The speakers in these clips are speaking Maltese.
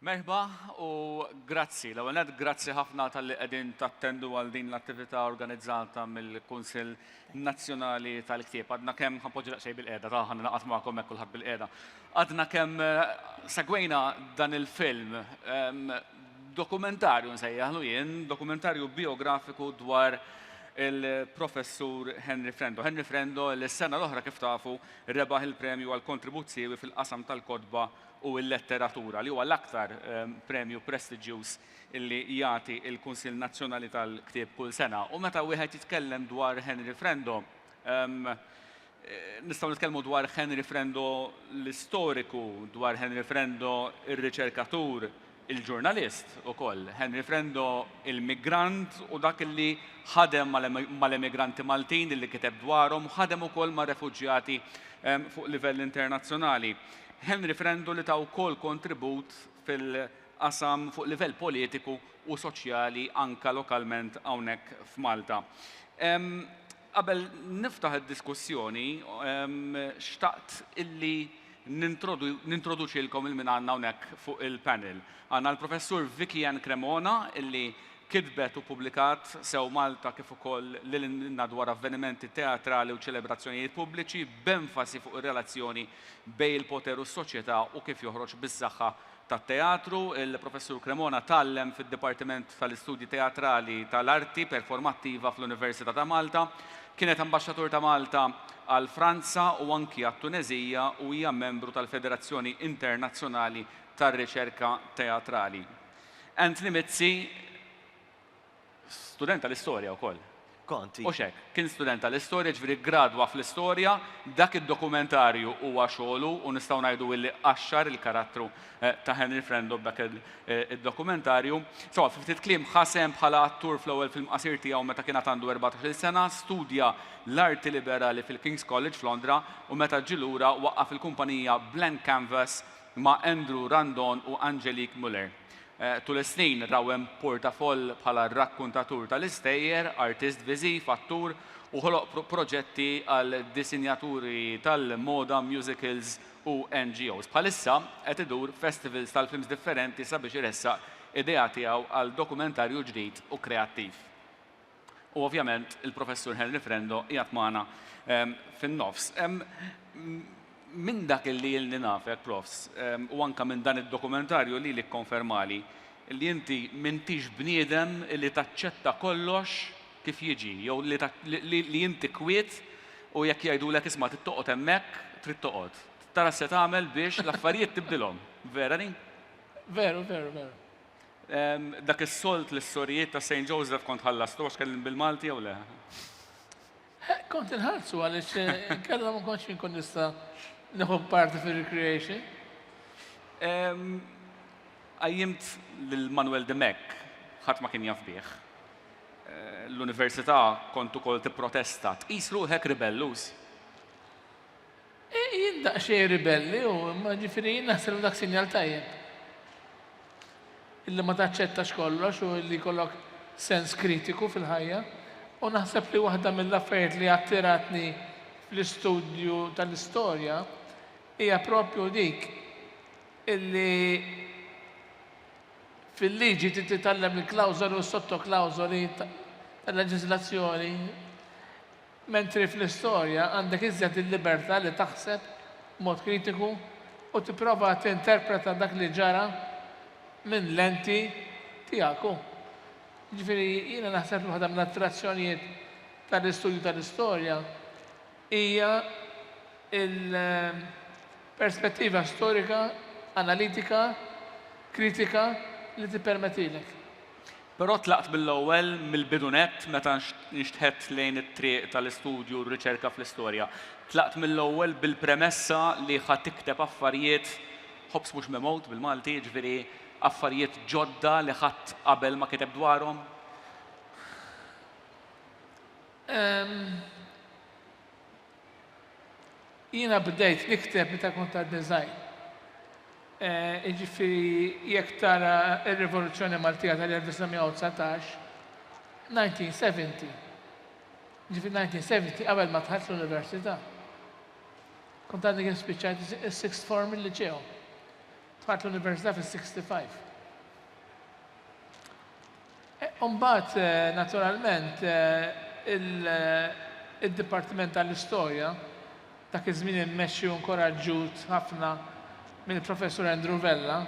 Merħba u grazzi. L-ewwel nett grazzi ħafna talli qegħdin tattendu għal din l-attività organizzata mill-Kunsill Nazzjonali tal-Ktieb. Għadna kemm ħanpoġġi daqsxejn bil-qiegħda, ta' ħan naqgħod magħkom hekk kulħadd bil-qiegħda. Għadna kemm eh, segwejna dan il-film ehm, Dokumentarju nsejjaħlu jien, dokumentarju bijografiku dwar il-Professur Henry Frendo. Henry Frendo li s-sena l-oħra kif tafu rebaħ il-premju għal kontribut siewi fil-qasam tal-kotba u l-letteratura li huwa l-aktar premju prestiġjuż li jagħti l-Kunsill Nazzjonali tal-Ktieb kull sena. U meta wieħed jitkellem dwar Henry Frendo, Nistgħu nitkellmu dwar Henry Frendo l-istoriku, dwar Henry Frendo ir-riċerkatur, il-ġurnalist ukoll, Henry Frendo il-migrant u dak li ħadem mal-emigranti Maltin li kiteb dwarhom u ħadem ukoll mar-refuġjati fuq livell internazzjonali. Henry Frendo li ta wkoll kontribut fil-qasam fuq livell politiku u soċjali anke lokalment hawnhekk f'Malta. Qabel niftaħ id-diskussjoni, xtaqt illi nintroduċilkom il-min għandna hawnhekk fuq il-panel. Għandna l-Professur Vicky Ann Cremona illi kitbet u pubblikat sew Malta kif ukoll lil hinn dwar avvenimenti teatrali u ċelebrazzjonijiet pubbliċi b'enfasi fuq ir-relazzjoni bejn il-poter u s-soċjetà u kif joħroġ bis-saħħa tat-teatru, il-Professur Cremona tgħallem fid-Dipartiment tal-Istudji Teatrali tal-Arti Performattiva fl-Università ta' Malta. Kienet Ambaxxatur ta' Malta għal Franza u anki għat-Tuneżija u hija membru tal-Federazzjoni Internazzjonali tar-Riċerka Teatrali. Anthony Mizzi, Student tal-istorja wkoll. Kont, iva. Hux hekk? Kien student tal-istorja, jiġifieri ggradwa fl-istorja, dak id-dokumentarju huwa xogħlu u nistgħu ngħidu illi qaxxar il-karattru ta' Henry Frendo b'dak id-dokumentarju. Sewwa, fi ftit kliem, ħa sehem bħala attur fl-ewwel film qasir tiegħu meta kien għad għandu erbatax-il sena, studja l-arti liberali fil-King's College f'Londra u meta ġie lura waqqaf il-kumpanija Blank Canvas ma' Andrew Randon u Angelique Muller. Tul is-snin Rawen porta foll bħala rakkuntatur tal-istejjer, artist viżiv, attur, u ħoloq proġetti għal disinjaturi tal-moda, musicals u NGOs. Bħalissa qed idur festivals tal-films differenti sabiex iressaq idea tiegħu għal dokumentarju ġdid u kreattiv. U ovvjament il-Professur Henry Frendo qiegħed magħna ehm, fin-nofs. Ehm, minn dak li jilni nafek, profs, ehm, u anka minn dan id-dokumentarju li li konfermali li inti mintix bniedem li taċċetta kollox kif jiġi, jew li inti kwiet u jekk jgħidu l isma trid toqgħod hemmhekk, trid toqgħod. Tara se tagħmel biex l-affarijiet tibdilhom. Vera ni? Veru, veru, veru. Dak is-solt li s-sorijiet ta' St. Joseph kont ħallastu għax kellim bil-Malti jew le? Eh, kont inħallsu għaliex eh, kellhom ma kontx inkun nista' neħu parti fir-recreation. Għajjimt lil Manuel de Mek, ħadd ma kien jaf bih. Eh, l-università kont ukoll tipprotesta, tqis ruħek ribellus. Jien daqsxejn ribelli u imma ġifieri jien naħseb li dak sinjal tajjeb. Illi ma taċċettax kollox u illi jkollok sens kritiku fil-ħajja. U naħseb li waħda mill-affarijiet li attiratni fl-istudju tal-istorja hija proprju dik illi fil-liġi trid titgħallem il-klawżoli u s-sottoklawżoli tal-leġiżlazzjoni. Mentri fl-istorja għandek iżjed il-libertà li taħseb b'mod kritiku u tipprova tinterpreta dak li ġara minn lenti tiegħek u. Jiġifieri jiena naħseb li waħda mill-attrazzjonijiet tal-istudju tal-istorja hija l-perspettiva storika analitika kritika li tippermettilek. Però tlaqt mill-ewwel, mill-bidu nett, meta nxtħet lejn it-triq tal-istudju u r-riċerka fl-istorja. Tlaqt mill-ewwel bil-premessa li ħa tikteb affarijiet, ħobż mhux mimgħud bil-Malti, jiġifieri affarijiet ġodda li ħadd qabel ma kiteb dwarhom. Ehm. Jiena bdejt nikteb meta kont għadni żgħir. Jiġifieri jekk tara r-Rivoluzzjoni Maltija tal-1919, 1970, jiġifieri 1970 qabel ma dħalt l-Università. Kont għadni kif spiċċajt is-sixth form il-Liċew. Dħalt l-Università fis-65. Imbagħad, naturalment, id-Dipartiment tal-Istorja, dak iż-żmien immexxi u nkoraġġut ħafna mill-Professur Andrew Vella,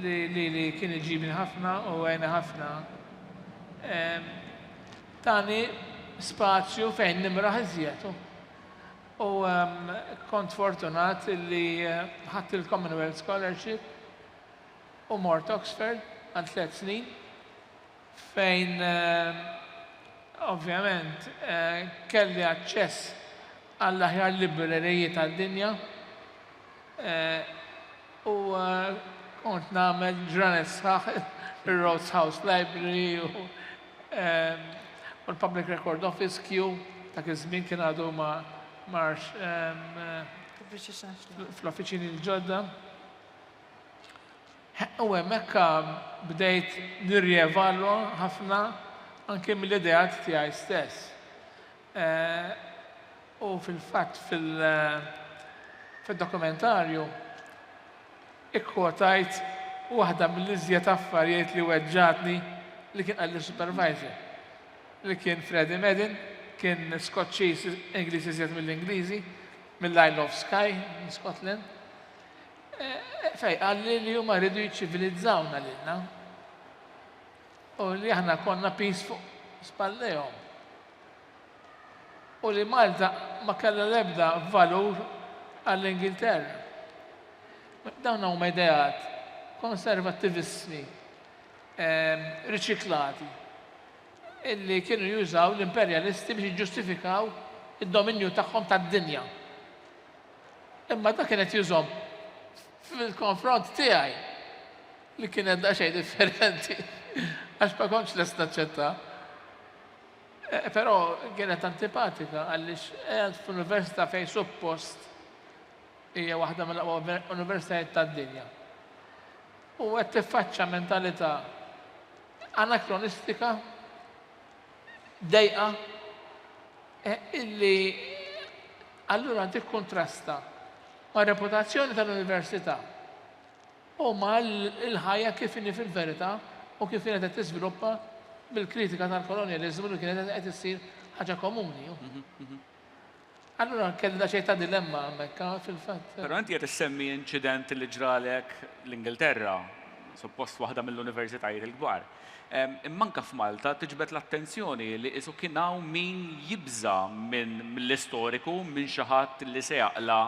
li lili kien iġibni ħafna u għeni ħafna, tani spazju fejn nimraħ iżjed. U kont fortunat li ħadt il-Commonwealth Scholarship. u mort Oxford għal tliet snin fejn ovvjament kelli aċċess għall-aħjar libreriji tad-dinja u kont nagħmel ġranet sħaħ ir-Rhodes House Library u l-Public Record Office, Kew, dak iż-żmien kien għadu ma marx fl-offiċini l-ġodda. U hemmhekk bdejt nirrievalwa ħafna anke mill-ideat tiegħi stess. U fil-fatt fil-dokumentarju ikkwotajt waħda mill-iżjed affarijiet li weġġgħatni li kien qalli s-supervisor, li kien Freddie Madden, kien Skoċċiż Ingliż iżjed mill-Ingliżi, mill-Isle of Skye, minn Scotland. Fej, għalli li huma rridu jiċċivilizzawna lilna. U li aħna konna pis fuq spallejhom. U li Malta ma kellha l-ebda valur għall-Ingilterra. Dawn huma ideat konservattivissmi ehm, riċiklati illi kienu jużaw l-imperjalisti biex jiġġustifikaw id-dominju tagħhom tad-dinja. Imma ta' kienet jużom fil-konfront tiegħi li kienet daqsxejn differenti għax ma kontx lest naċċetta. Eh, però kienet antipatika għaliex għed f'università fejn suppost hija waħda mill-aqwa universitajiet tad-dinja. U qed tiffaċċa mentalità anakronistika dejqa illi allura tikkuntrasta mar-reputazzjoni tal-Università u mal-ħajja kif inhi fil-verità u kif kienet qed tiżviluppa bil-kritika tal-kolonjaliżmu li kienet qed issir ħaġa komuni. Allura kelli daqsxejn ta' dilemma hemmhekk ah, fil-fatt. Però inti qed issemmi inċident li ġralek l-Ingilterra, suppost waħda mill-universitajiet il-kbar. Imma anke f'Malta tiġbed l-attenzjoni li qisu kien hawn min jibża' minn mill-istoriku, minn xi ħadd li se jaqla'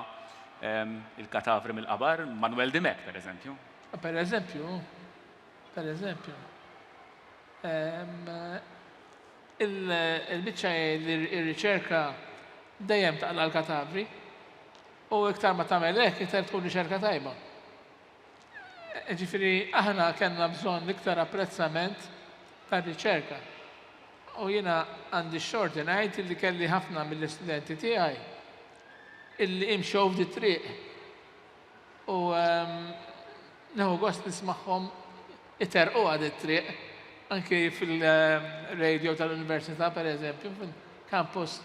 il-katavri mill-qabar, Manwel Dimech pereżempju. Pereżempju, pereżempju. Il-biċċa hi li r-riċerka dejjem taqla' l-katavri u iktar ma tagħmel hekk iktar tkun riċerka tajba. Ġifieri aħna kellna bżonn iktar apprezzament tar-riċerka. U jiena għandi x-xorti ngħid li kelli ħafna mill-istudenti tiegħi illi imxew f'di triq. U nieħu gost nismagħhom iterqu għad it-triq, anki fil-radio tal-Università pereżempju, fil-Campus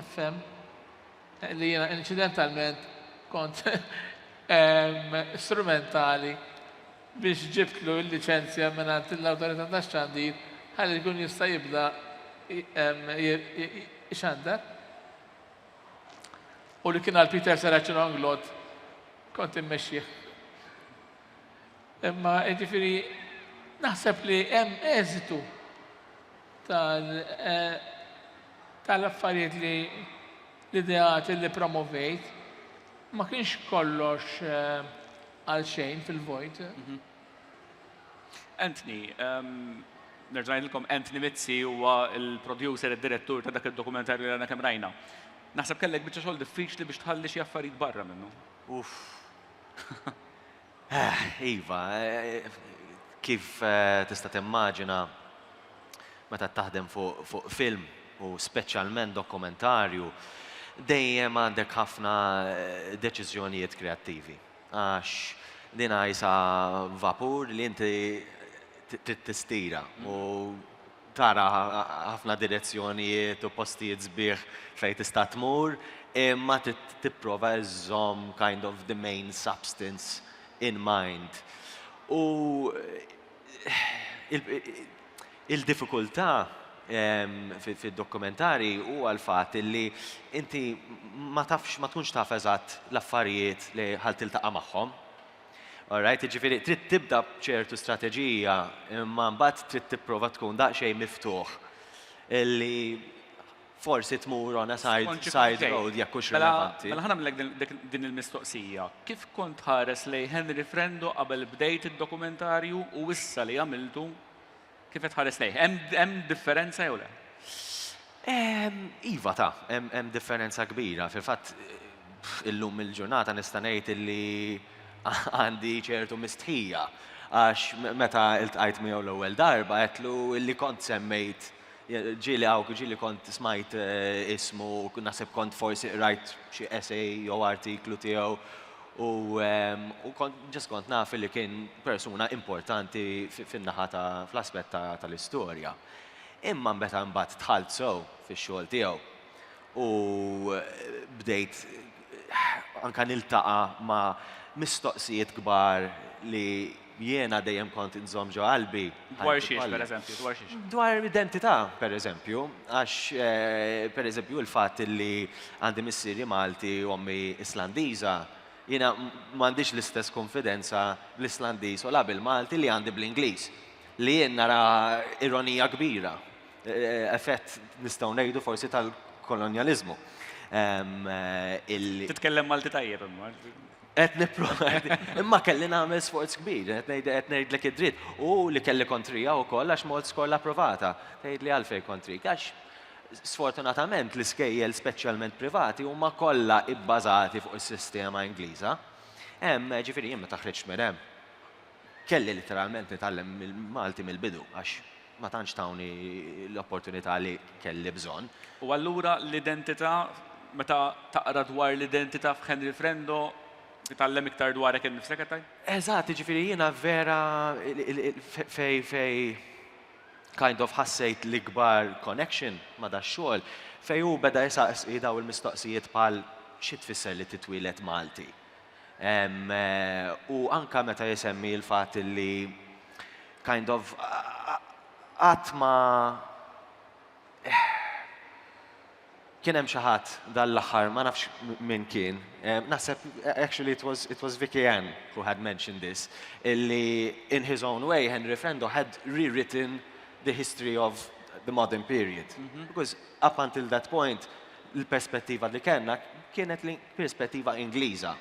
FM, li jiena inċidentalment kont strumentali biex ġibtlu l-liċenzja mingħand l-Awtorità tax-Xandir ħalli jkun jista' jibda jxandar. U li kien għal Peter Seraċin Onglot, kont immexxih. Imma ġifiri, naħseb li hemm eżitu eh, tal-affarijiet li l-ideat li promovejt ma kienx kollox eh, għal xejn fil-vojt. Mhm. Anthony, ehm, nerġa' ngħidilkom Anthony Mizzi huwa l-producer, id-direttur ta' dak id-dokumentarju li għandna kemm rajna. Naħseb kellek biċċa xogħol diffiċli biex tħalli xi affarijiet barra minnu. Uff. Eh, iva, eh, kif eh, tista' timmaġina meta taħdem fuq film u speċjalment dokumentarju, dejjem għandek ħafna deċiżjonijiet kreattivi. Għax din għajsa vapur li inti trid tistira u tara ħafna direzzjonijiet u postijiet sbieħ fejn tista' tmur, imma trid tipprova żżomm kind of the main substance in mind. U il-diffikultà fid-dokumentari huwa l-fatt li inti ma tafx, ma tkunx taf eżatt l-affarijiet li ħa tiltaqa' magħhom. Alright, jiġifieri trid tibda b'ċertu strateġija imma mbagħad trid tipprova tkun daqsxejn miftuħ li Forsi tmur on a side side road jekk hux rilevanti. Mela ħa nagħmlilek din il-mistoqsija. Kif kont tħares lejn Henry Frendo qabel bdejt id-dokumentarju u issa li għamiltu kif qed tħares lejh? Hemm differenza jew le? Iva ta, hemm differenza kbira. Fil-fatt illum il-ġurnata nista' ngħid illi għandi ċertu mistħija għax meta iltqajt miegħu l-ewwel darba għedtlu illi kont semmejt Ġieli hawn, ġieli kont smajt ismu, naħseb kont forsi qrajt xi essay jew artiklu tiegħu u kont ġest kont naf li kien persuna importanti fin-naħa ta' fl-aspett tal-istorja. Imma meta mbagħad dħalt sew fix-xogħol tiegħu u bdejt anke niltaqa' ma' mistoqsijiet kbar li Jiena dejjem kont inżomm ġo qalbi ħajti kollha. Dwar xiex, pereżempju, dwar xiex? Dwar identità, pereżempju, għax, pereżempju, il-fatt li għandi missieri Malti u ommi Islandiża, jiena m'għandix l-istess kunfidenza bl-Islandiż u la bil-Malti li għandi bl-Ingliż, li jien nara ironija kbira, effett, nistgħu ngħidu forsi tal-kolonjaliżmu, illi. Titkellem Malti tajjeb imma. Qed nipprova, imma kelli nagħmel sforz kbir, qed ngħidlek id-dritt. U li kelli kontrija wkoll għax m'għodtx skola approvata. Tgħidli għalfejn kontrik? Għax sfortunatament l-iskejjel speċjalment privati huma kollha ibbażati fuq is-sistema Ingliża. Hemm, ġifieri jien meta ħriġt minn hemm, Kelli litteralment nitgħallem il-Malti mill-bidu għax ma tantx tawni l-opportunità li kelli bżonn. U allura l-identità, meta taqra dwar l-identità f'Henry Frendo, titgħallem iktar dwarek innifsek qed tgħid? Eżatt, jiġifieri jiena vera fejn kind of ħassejt l-ikbar connection ma' dax-xogħol, fejn hu beda jsaqsi dawn il-mistoqsijiet bħal xi tfisser li titwieled Malti? U anke meta jsemmi l-fatt li kind of qatt ma kien hemm xi ħadd dan l-aħħar ma nafx min kien, naħseb actually it was it was Vicky Ann who had mentioned this, illi in his own way Henry Frendo had rewritten the history of the modern period. Because up until that point l-perspettiva li kellna kienet li perspettiva Ingliża.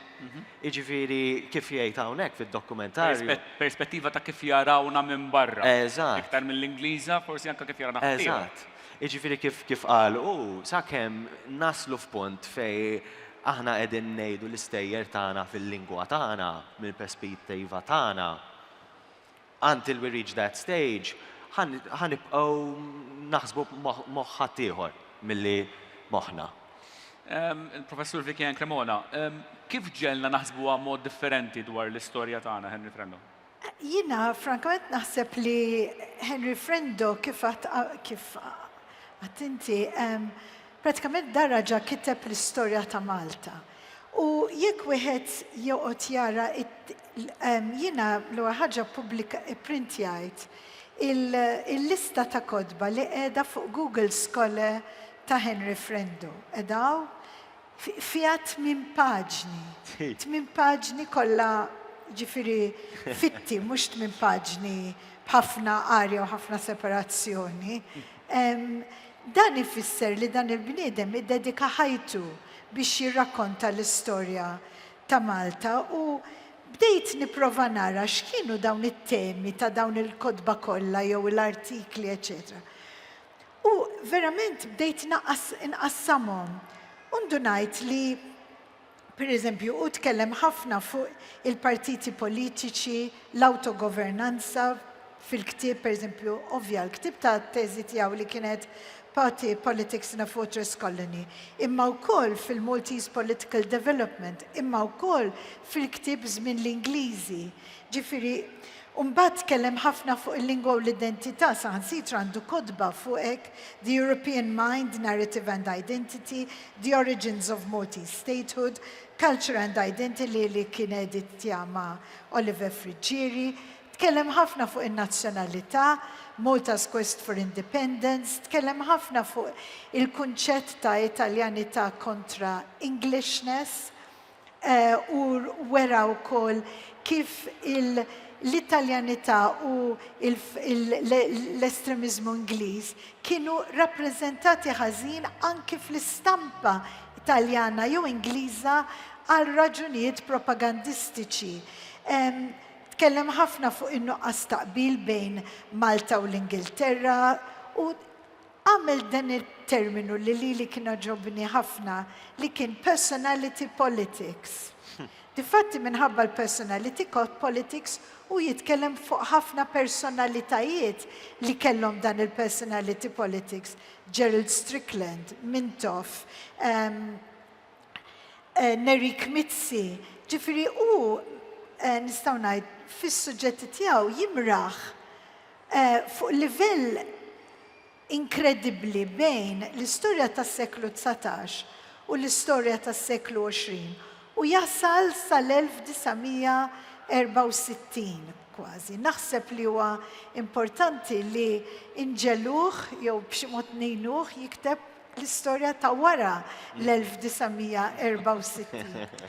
Jiġifieri kif jgħid hawnhekk fid-dokumentarju. Perspettiva ta' kif jarawna minn barra. Eżatt. Iktar mill-Ingliża, forsi anke kif jarana ħaddieħor. Eżatt. Jiġifieri kif kif qal hu, sakemm naslu f'punt fejn aħna qegħdin ngħidu l-istejjer tagħna fil-lingwa tagħna, mill-perspettiva tagħna, Until we reach that stage, ħa nibqgħu naħsbu b'moħħ ħaddieħor milli moħħna. Il-Professur Vicky Ann Cremona, Kif ġegħelna naħsbuha mod differenti dwar l-istorja tagħna Henry Frendo? Jiena frankament naħseb li Henry Frendo kif għad kif għadt inti, prattikament dar raġa' kiteb l-istorja ta' Malta. U jekk wieħed joqgħod jara jiena l-ewwel ħaġa pubblika ipprintjajt il-lista ta' kotba li qiegħda fuq Google Scholar ta' Henry Frendo. Qed hawn? Fiha tmien paġni. Tmien paġni kollha jiġifieri fitti, mhux tmien paġni b'ħafna arja u ħafna separazzjoni. Dan ifisser li dan il-bniedem iddedika ħajtu biex jirrakkonta l-istorja ta' Malta u bdejt nipprova nara x'kienu dawn it-temi ta' dawn il-kotba kollha jew l-artikli eċċetera. U verament bdejt inqassamhom u ndunajt li Pereżempju, hu tkellem ħafna fuq il-partiti politiċi, l-awtogovernanza, fil-ktieb, pereżempju, ovvja, l-ktieb ta' teżi tiegħu li kienet Party, Politics in a Fortress Colony, imma wkoll fil-Maltese Political Development, imma wkoll fil-ktieb Żmien l-Ingliżi. Ġifieri, U mbagħad tkellem ħafna fuq il-lingwa u l-identità, saħansitra għandu kotba fuq hekk, The European Mind, Narrative and Identity, The Origins of Maltese Statehood, Culture and Identily li kien editja ma' Oliver Friggieri. Tkellem ħafna fuq in-nazzjonalità, Malta's Quest for Independence, tkellem ħafna fuq il-kunċett ta' Italjanità kontra Englishness, u wera wkoll kif l-Italjanità u l-estremiżmu Ingliż kienu rappreżentati ħażin anki fl-istampa Taljana jew Ingliża għal raġunijiet propagandistiċi. Tkellem ħafna fuq in-nuqqas ta' qbil bejn Malta u l-Ingilterra u Għamilt dan it-terminu li lili kien għoġobni ħafna li kien personality politics. Difatti minħabba l-personality politics hu jitkellem fuq ħafna personalitajiet li kellhom dan il-personality politics, Gerald Strickland, Mintoff, Nerik Mizzi, ġifieri hu nistgħu ngħid fis-suġġetti tiegħu jimraħ Fuq livell inkredibbli bejn l-istorja tas-seklu dsatax u l-istorja tas-seklu għoxrin u jasal sal-1964 kważi. Naħseb li huwa importanti li nġegħluh jew b'xi mod ngħinuh jikteb l-istorja ta' wara l-1964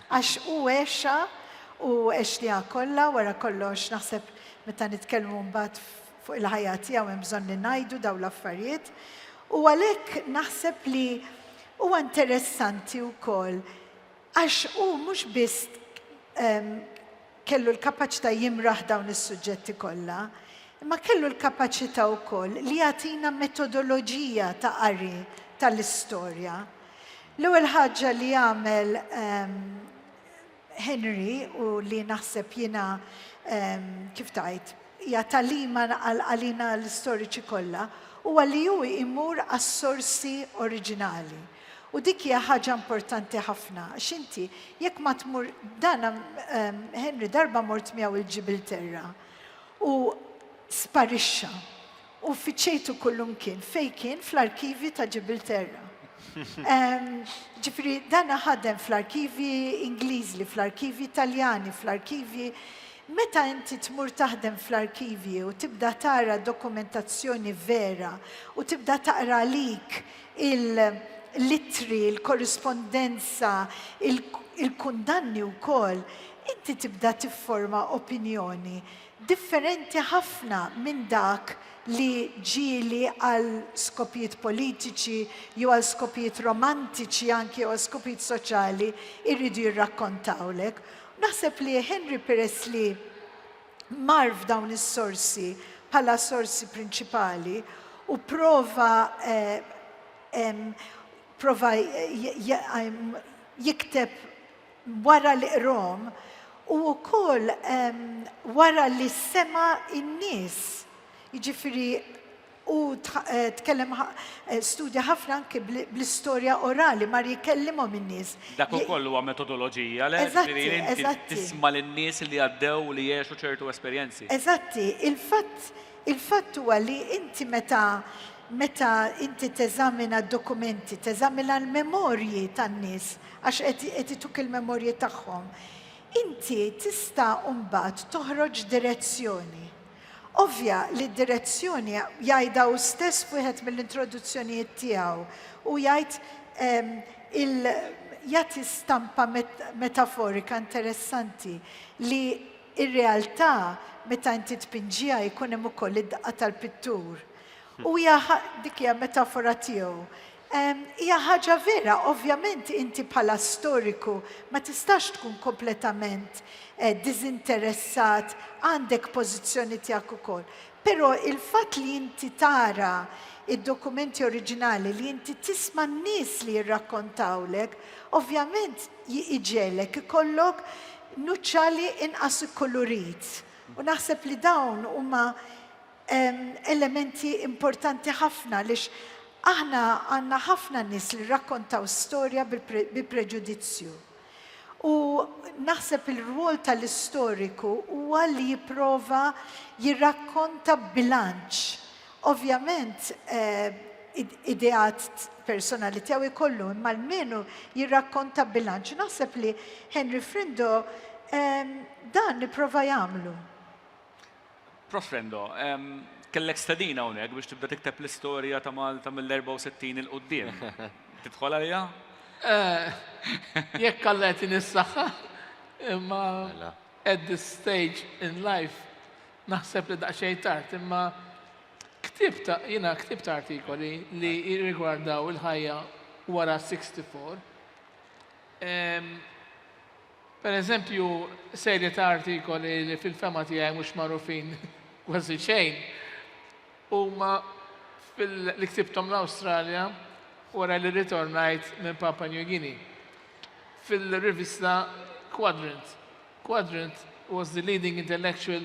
għax hu għexha u għextniha kollha wara kollox naħseb meta nitkellmu mbagħad fuq il-ħajja tiegħu hemm bżonn li ngħidu dawn l-affarijiet u għalhekk naħseb li huwa interessanti wkoll għax hu mhux biss Kellu l-kapaċità jimraħ dawn is-suġġetti kollha, imma kellu l-kapaċità wkoll li jagħtina metodoloġija ta' qari tal-istorja. L-ewwel ħaġa li għamel Henry u li naħseb jiena kif tgħid hija tagħlima għalina l-istoriċi kollha huwa li hu jmur għas-sorsi oriġinali. U dik hija ħaġa importanti ħafna, għax inti jekk ma tmur dana Henry darba mort miegħu il-Ġibilterra u sparixxa u fittxejtu kullumkien, fejn kien fl-arkivji ta' Ġibilterra. Ġifieri dana ħadem fl-arkivji Ingliżi, fl-arkivji Taljani, fl-arkivji Meta inti tmur taħdem fl-arkivji u tibda tara dokumentazzjoni vera u tibda taqra għalik il-ittri, il-korrispondenza, il-kundanni wkoll, inti tibda tifforma opinjoni differenti ħafna minn dak li ġieli għal skopijiet politiċi jew għal skopijiet romantiċi anki jew għal skopijiet soċjali jridu jirrakkontawlek. Naħseb li Henry peress li mar f'dawn is-sorsi bħala sorsi prinċipali u prova prova jikteb wara li qrom u wkoll wara li sema' in-nies. Jiġifieri Hu tkellem studja ħafna anki bl-istorja orali, mar jkellimhom in-nies. Dak ukoll huwa metodoloġija, le? Eżatti, eżatti. Tisma' lin-nies li għaddew u li għexu ċertu esperjenzi. Eżatti. Il-fatt, il-fatt huwa li inti meta, meta inti teżamina d-dokumenti, teżamina l-memorji tan-nies, għax qed, qed ituk il-memorji tagħhom, inti tista' mbagħad toħroġ direzzjoni. Ovvja li d-direzzjoni jgħidha hu stess f'wieħed mill-introduzzjonijiet tiegħu. Hu jgħid il jagħti stampa metaforika interessanti li r-realtà meta inti tpinġiha jkun hemm ukoll id-daqqa tal-pittur. Hu dik hija metafora tiegħu Hija ħaġa vera, ovvjament inti bħala storiku ma tistax tkun kompletament diżinteressat, għandek pożizzjoni tiegħek ukoll. Però il-fatt li inti tara d-dokumenti oriġinali, li inti tisma' n-nies li jirrakkontawlek, ovvjament iġegħlek ikollok nuċċali inqas ikkulurit. U naħseb li dawn huma elementi importanti ħafna għaliex aħna għandna ħafna nies li rrakkontaw storja bi preġudizzju. U naħseb il-rwol tal-istoriku huwa li jipprova jirrakkonta b'bilanċ. Ovvjament ideat personali tiegħu jkollu, imma almenu jirrakkonta bilanċ. U naħseb li Henry Frindo dan ipprova jagħmlu. Prof. Frendo, kellek stedina hawnhekk biex tibda tikteb l-istorja ta' Malta mill-64 'il quddiem. Tidħol għaliha? Jekk Alla jagħtini s-saħħa, imma at this stage in life naħseb li daqsxejn tard, imma ktibt jiena ktibt artikoli li jirrigwardaw il-ħajja wara 64. Per eżempju, serje ta' artikoli li fil-fehma tiegħi mhux magħrufin kważi xejn huma li ktibthom l-Awstralja wara li rritornajt minn Papua New Guinea fil-rivista Quadrant. Quadrant was the leading intellectual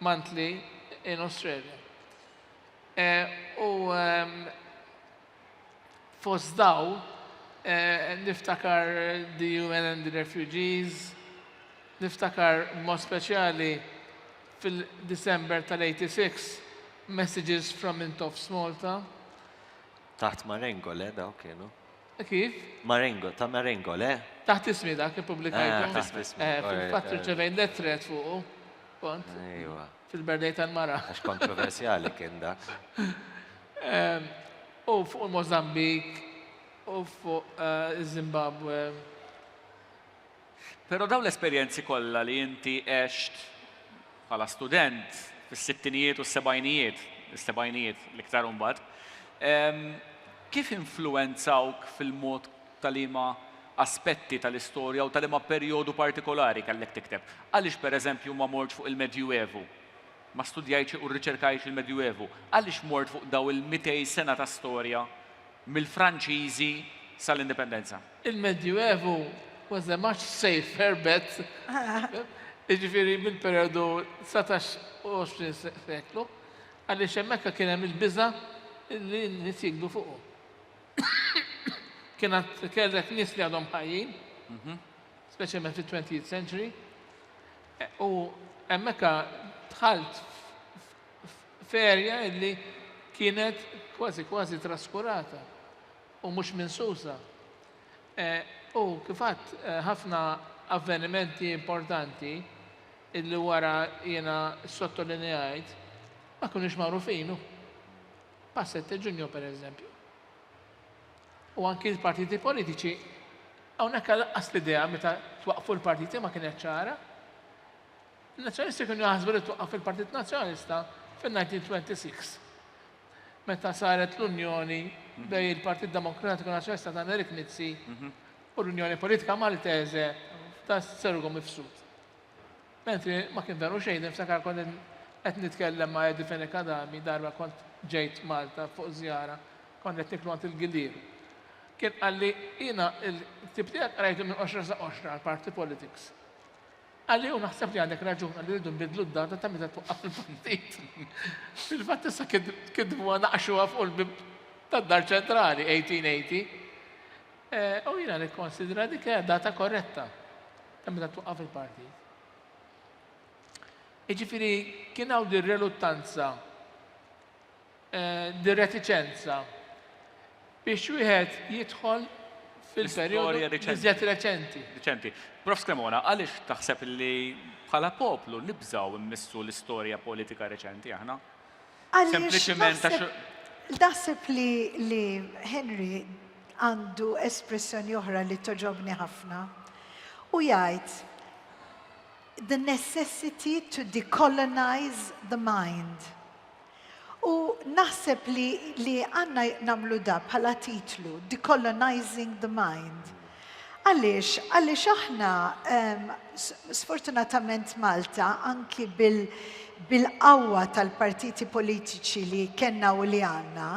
monthly in Australia. Eh, u ehm, Fost daw niftakar the UN and the Refugees, niftakar b'mod speċjali fil-December tal-86 Messages from Intoffs Malta. Taħt Marengo le daw kienu? Kif? Marengo, ta' Marengo le? Taħt ismi dak ippubblikajtu. Ah, taħt ismi. Eh, fil-fatt irċevejt lettret fuqu. Kont. Ejwa. fil-birthday tal-mara. Għax kontroversjali kien dak. U fuq il-Mozambik, u fuq iż-Zimbabwe. Però dawn l-esperjenzi kollha li inti għext bħala student fis-sittinijiet u s-sebgħinijiet, is-sebgħinijiet l-iktar imbagħad, kif influwenzawk fil-mod ta' liema aspetti tal-istorja u ta' liema perjodu partikolari kellek tikteb. Għaliex, pereżempju, ma mortx fuq il-Medjuevu? Ma studjajtx u rriċerkajtx il-Medjuevu? Għaliex mort fuq dawn il-mitej sena ta' storja mill-Franċiżi sal-Indipendenza? Il-Medjuevu was a much safer bet, jiġifieri mill-perjodu dsatax u għoxrin seklu, għaliex hemmhekk kien hemm il-biża' li n-nies jigdu fuqu. kien għad kellek nies li għadhom ħajjin, mhm. speċjalment fit-20th century, e, u hemmhekk dħalt ferja illi kienet kważi kważi traskurata u mhux minsusa. E, u kifat e, ħafna avvenimenti importanti illi wara jiena sottolineajt ma kunux magħrufinu. pa' Sette Ġunju per eżempju. U anki l-partiti politiċi hawnhekk għalaqqas l-idea meta twaqqfu l-partiti ma kienet ċara. Il-Nazzjonisti kienu jaħsbu li twaqqaf il-Partit Nazzjonalista fin-1926 meta saret l-Unjoni mhm. bej il-Partit Demokratiku Nazzjonista ta' Erik Mizzi mhm. u l-Unjoni Politika Maltese ta' Sergo Mifsud. Mentri ma kien veru xejn, niftakar kont qed nitkellem ma' Edi Fenech Adami darba kont ġejt Malta fuq żjara, kont qed niklu għand il-Gillier. Kien qalli jiena il-ktieb tiegħek qrajtu minn qoxra sa qoxra għal party politics. Qalli u naħseb li għandek raġun qalli rridu nbidlu d-data ta' meta twaqqaf il-partit. Fil-fatt issa kitbuha naqxuha fuq il-bib tad-dar ċentrali 1880. Eh, u jiena nikkonsidra dik hija data korretta. Hemm meta twaqqaf il-partit. Jiġifieri kien hawn din reluttanza, din retiċenza biex wieħed jidħol fil-perjodu iżjed reċenti. Reċenti. Prof Cremona, għaliex taħseb li bħala poplu nibżgħu mmissu l-istorja politika reċenti aħna? Sempliċiment Naħseb li Henry għandu espressjoni oħra li toġobni ħafna. U jgħid the necessity to decolonize the mind. U naħseb li għandna nagħmlu da bħala titlu, decolonizing the mind. Għaliex? Għaliex aħna sfortunatament Malta anki bil-qawwa tal-partiti politiċi li kellna u li għandna,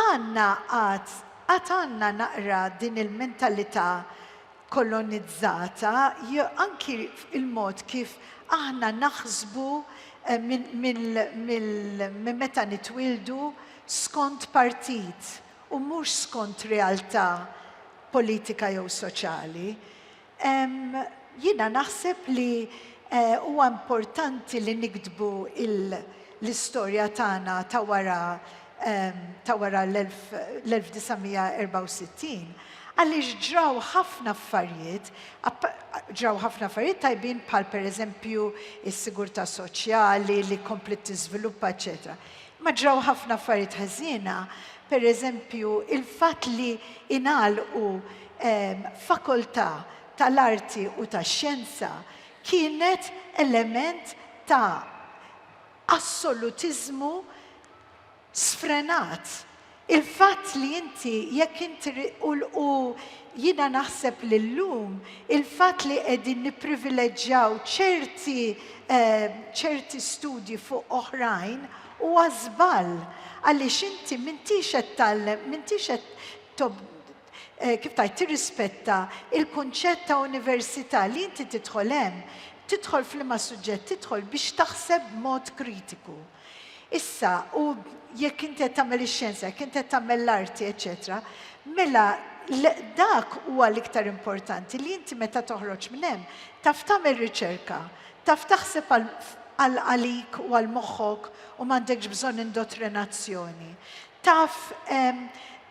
għandna għad għad għandna naqra din il-mentalità kolonizzata anki fil-mod kif aħna naħsbu minn meta nitwieldu skont partit. u mhux skont realtà politika jew soċjali, jiena naħseb li huwa importanti li niktbu l-istorja tagħna ta' wara ta' wara l-1964 għaliex ġraw ħafna affarijiet, ġraw ħafna affarijiet tajbin bħal pereżempju s-sigurtà soċjali li kompliet tiżviluppa eċċetera. Ma ġraw ħafna affarijiet ħażiena, pereżempju il-fatt li ingħalqu fakoltà tal-arti u tax-xjenza kienet element ta' assolutiżmu sfrenat Il-fatt li inti, jekk inti, u, u jiena naħseb li llum il-fatt li qegħdin nipprivileġġjaw ċerti, ċerti studji fuq oħrajn huwa żball għaliex inti m'intix qed tgħallem, m'intix qed tob, kif tgħid, tirrispetta l-kunċett ta' università li inti tidħol hemm, tidħol f'liema suġġett tidħol biex taħseb b'mod kritiku. Issa, u jekk inti qed tagħmel ix-xjenza, jekk inti qed tagħmel l-arti, eċċetera, mela dak huwa l-iktar importanti li inti meta toħroġ minn hemm taf tagħmel riċerka, taf taħseb għal għalik u għal moħħok u m'għandekx bżonn indottrinazzjoni. Taf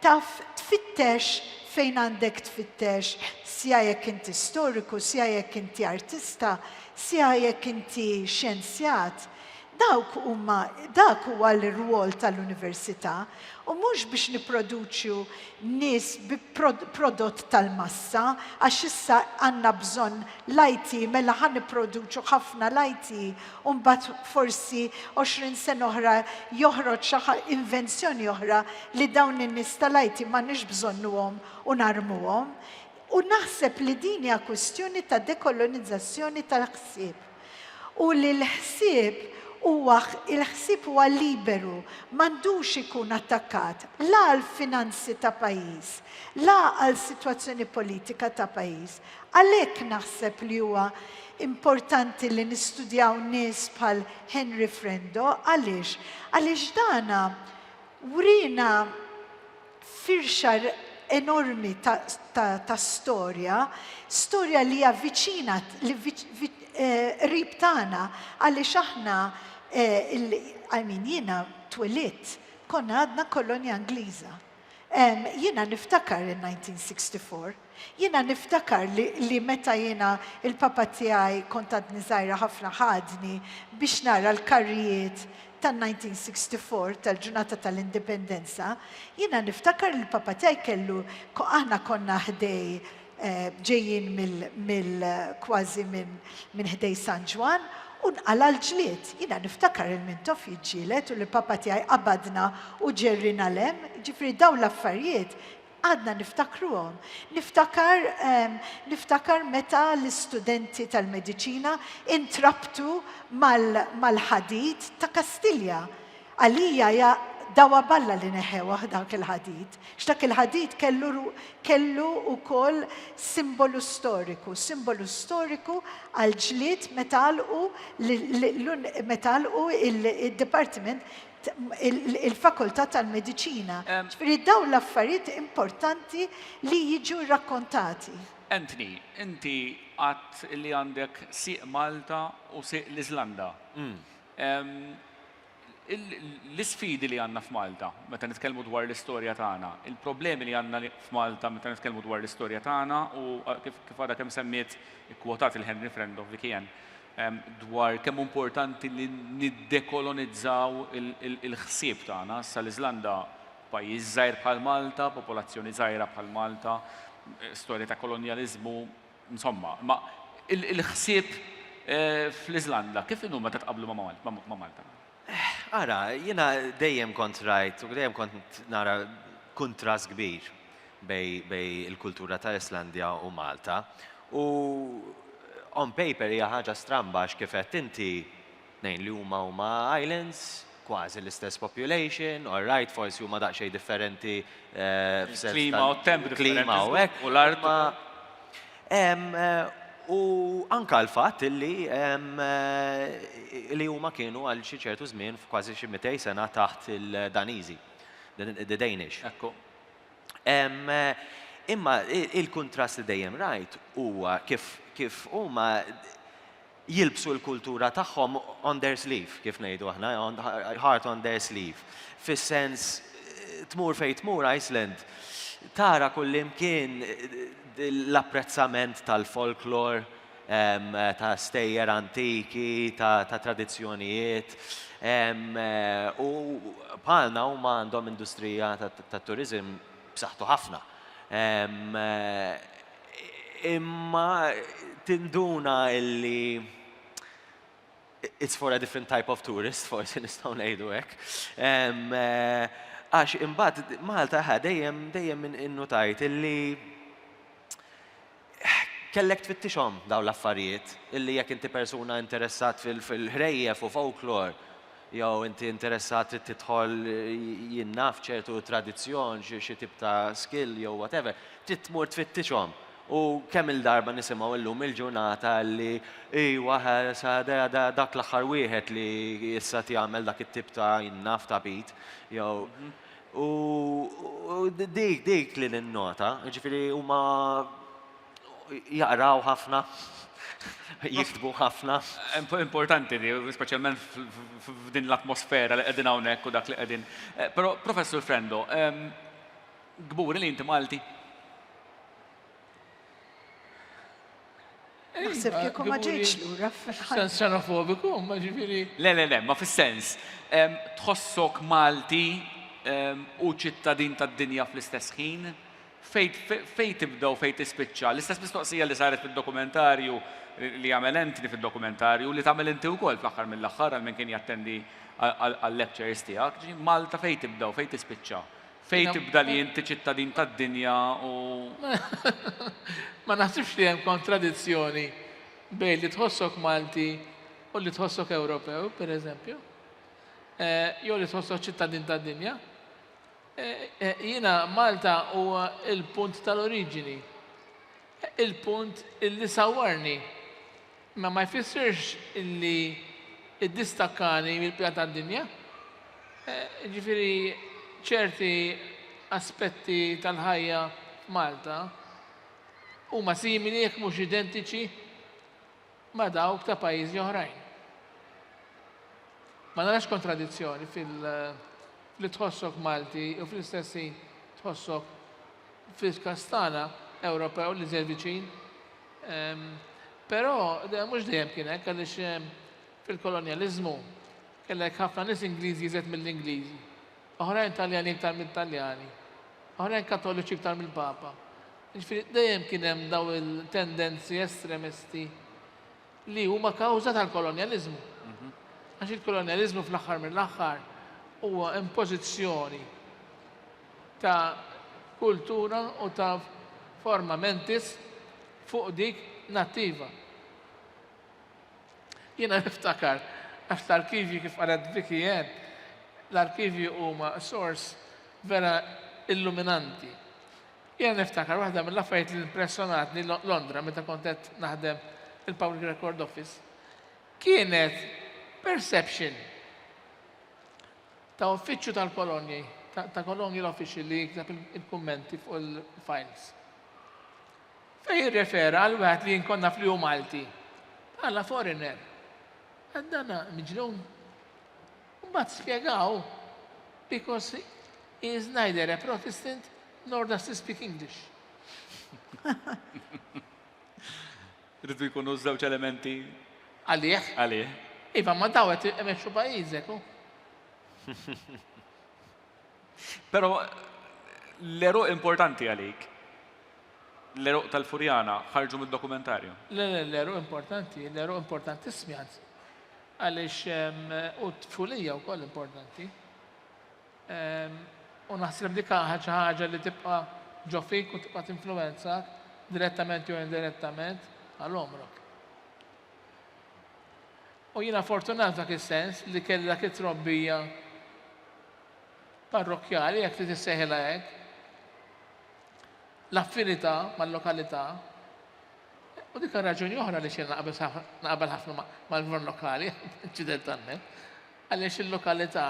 taf tfittex fejn għandek tfittex sja jekk inti storiku, sja jekk inti artista, sja jekk inti xjenzjat. Dawk huma, dak huwa l-irwol tal-università u mhux biex nipproduċu nies bi prodott tal-massa għax issa għandna bżonn l-IT mela ħa nipproduċu ħafna l-IT u mbagħad forsi għoxrin sena oħra joħroġ xi invenzjoni oħra li dawn in-nies tal-IT m'għandniex bżonnuhom u narmuhom. U naħseb li din hija kwistjoni ta' dekolonizzazzjoni tal-ħsieb. u li l-ħsieb huwa l-ħsieb huwa liberu, m'għandux ikun attakkat la għall-finanzi ta' pajjiż, la għal sitwazzjoni politika ta' pajjiż. Għalhekk naħseb li huwa importanti li nistudjaw nies bħal Henry Frendo. Għaliex? Għaliex dana wriena firxa enormi ta' storja, storja li hija viċina, qrib tagħna, għaliex aħna, I mean, jiena twelidt, konna għadna kolonja Ingliża. Jiena niftakar in-1964, Jiena niftakar li li meta jiena il-papa tiegħi kont għadni żgħira ħafna ħadni biex nara l-karrijiet tan-1964, tal-ġurnata tal-Indipendenza, jiena niftakar li l-papa tiegħi kellu aħna konna ħdej ġejjin mill mill kważi minn minn ħdej San Ġwann u nqala' l-ġlied. Jiena niftakar il-Mintoff jiġġieled u li papa tiegħi qabadna u ġerriena 'l hemm, jiġifieri dawn l-affarijiet Għadna niftakruhom. Niftakar, niftakar meta l-istudenti tal-mediċina intrabtu mal-ħadid ta' Kastilja. Għalija hija dawha b'Alla li neħewh dak il-ħadid. X'dak il-ħadid kellu kellu wkoll simbolu storiku, simbolu storiku għall-ġlied meta għalqu meta għalqu d-dipartiment il-Fakultà tal-Mediċina. Ġifieri dawn l-affarijiet importanti li jiġu rrakkontati. Anthony, inti għedt li għandek sieq Malta u sieq l-Iżlanda. L-isfidi li għandna f'Malta meta nitkellmu dwar l-istorja tagħna, il-problemi li għandna f'Malta meta nitkellmu dwar l-istorja tagħna u kif għadha kemm semmiet, ikkwotat lil Henry Friend of Vicky Anne, dwar kemm hu importanti li niddekolonizzaw il-ħsieb tagħna. Issa l-Iżlanda pajjiż żgħir bħal Malta, popolazzjoni żgħira bħal Malta, storja ta' kolonjaliżmu, insomma. Imma il-ħsieb fl-Iżlanda kif inhu meta tqabblu ma' Malta? Ara, jiena dejjem kont rajt u dejjem kont nara kuntrast kbir bej il-kultura ta' Islandja u Malta. U on paper hija ħaġa stramba għax kif għedt inti, tnejn li huma huma islands, kważi l-istess population, all right forsi huma daqsxejn differenti f'sens tal-klima u hekk. U l-art. U anke l-fatt illi li huma kienu għal xi ċertu żmien f'kważi xi mitej sena taħt il-Daniżi, the Danish. Ekku. Imma il-kuntrast li dejjem rajt huwa kif huma jilbsu l-kultura tagħhom on their sleeve, kif ngħidu aħna, heart on their sleeve. Fis-sens tmur fejn tmur Iceland, tara kullimkien l-apprezzament tal-folklor, ta' stejjer antiki, ta' tradizzjonijiet. U bħalna huma għandhom industrija tat-turiżim b'saħħtu ħafna. Imma tinduna illi it's for a different type of tourist, forsi nistgħu ngħidu hekk. Għax imbagħad Malta ħa dejjem dejjem innutajt illi kellek tfittixhom dawn l-affarijiet illi jekk inti persuna interessat fil-ħrejjef u folklor Jew inti interessat trid tidħol jien naf ċertu tradizzjon, xi tip ta' skill jew whatever, trid tmur tfittixhom. U kemm-il darba nisimgħu illum il-ġurnata li iwa dak l-aħħar wieħed li issa qed jagħmel dak it-tip ta' jien naf tagħbit jew. U dik li ninnota, jiġifieri huma Jaqraw ħafna, jiktbu ħafna. Importanti di, speċjalment f'din l-atmosfera li qegħdin hawnhekk u dak li qegħdin. Però Professur Frendo, kburi li inti Malti? Naħseb kieku ma ġejtx lura fil-ħajja. Sens xenofobiku, imma ġifieri. Le, le, le, ma fis-sens. Tħossok Malti u ċittadin tad-dinja fl-istess ħin? Fejn tibda u fejn tispiċċa? L-istess mistoqsija li saret fid-dokumentarju li jagħmel Anthony fid-dokumentarju, li tagħmel inti wkoll fl-aħħar mill-aħħar għal min kien jattendi għal-lectures tiegħek, ġi, Malta fejn tibda u fejn tispiċċa? Fejn tibda li inti ċittadin tad-dinja u. Ma naħsibx li hemm kontradizzjoni bejn li tħossok Malti u li tħossok Ewropew, pereżempju, jew li tħossok ċittadin tad-dinja. Jiena Malta huwa l-punt tal-oriġini. Il-punt illi sawwarni. Imma ma jfissirx illi iddistakkani mill-bqija tad-dinja. Jiġifieri ċerti aspetti tal-ħajja f'Malta huma simili jekk mhux identiċi ma' dawk ta' pajjiżi oħrajn. Ma narax kontradizzjoni fil- li tħossok Malti u fl-istess ħin tħossok fil-kastana Ewropew li żed viċin. Ehm, però mhux dejjem kien hekk għaliex ehm, fil-kolonjaliżmu kellek ħafna nies Ingliżi żed mill-Ingliżi. Oħrajn Taljani iktar mit-Taljani. Oħrajn Katoliċi iktar mill-Papa. Jiġifieri dejjem kien hemm dawn il-tendenzi estremisti li huma kawża tal-kolonjaliżmu. Mhm. Għax il-kolonjaliżmu fl-aħħar mill-aħħar huwa impożizzjoni ta' kultura u ta' forma mentis fuq dik nattiva. Jiena niftakar, għax l-arkivji kif qalet Vicky Anne, l-arkivji huma sors vera illuminanti. Jiena niftakar waħda mill-affarijiet li impressjonatni Londra meta kont qed naħdem fil-Public Record Office kienet perception ta' uffiċċju tal-kolonji, ta' kolonji l-official li jikteb il-kummenti fuq il-files. Fejn jirrefera għal wieħed li jien kont naf li hu Malti, bħala foreigner, għad dan miġnun. Mbagħad spjegaw because he is neither a Protestant nor does he speak English. Rridu jkunu żewġ elementi. Għalih? Għalih. Iva, ma daw qed emexxu pajjiżek. Però l-għeruq importanti għalik, l-għeruq tal-Furjana, ħarġu mid-dokumentarju. Le, le, l-għeruq importanti, l-għeruq importanti smjat. Għaliex u t-tfulija wkoll importanti. U naħseb dik ħaġa ħaġa li tibqa' ġo fik u tibqa' tinfluwenza direttament jew indirettament għal omrok. U jiena fortunat f'dak is-sens li kelli dak it-trobbija parrokkjali, jekk trid issejħilha hekk, l-affinità mal-lokalità, u dik raġuni oħra li xejn naqbel ħafna mal-gvern lokali, inċidentalment, għaliex il-lokalità